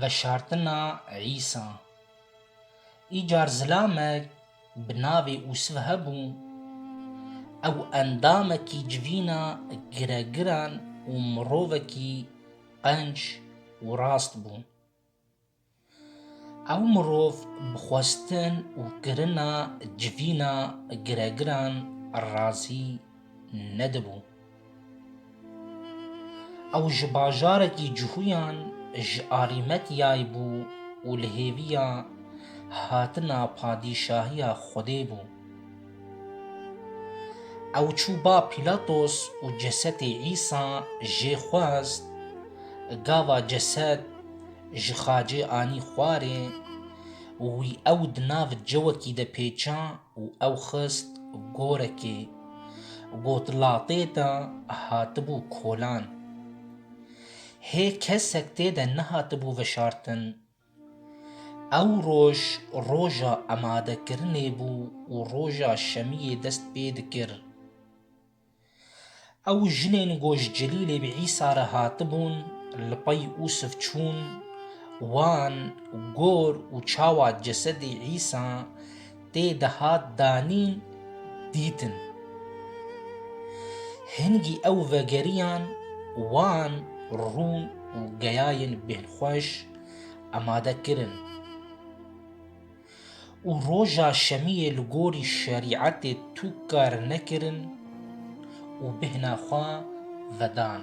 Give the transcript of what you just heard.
Veşartina Îsa Îcar zilamek bi navê Usv hebû, ew endamekî civîna giregiran û mirovekî qenc û rast bû. Ew mirov bi xwestin û kirina civîna giregiran razî nedibû. Ew ji bajarekî Cuhuyan ji alî Metyayê bû û li hêviya hatina padîşahiya Xwedê bû. Ew çû ba Pîlatos û cesetê Îsa jê xwest, gava ceset ji xacê anî xwarê û wî ew di nav cewekî de pêça û ew xist gorekê. Got latê de hatibû kolan. Hê kesek tê de nehatibû veşartin. Ew roj roja emadekirinê bû û roja şemiyê dest pê dikir. Ew jinên ku ji Celîlê bi Îsa re hatibûn li pey Usif çûn, wan gor û çawa cesedê Îsa tê dihat danîn dîtin. Hingî ew vegeriyan wan rûn û geyayên bêhnxweş amade kirin û roja şemiyê li gorî şerîetê tûk kar nekirin û bêhna xwe vedan.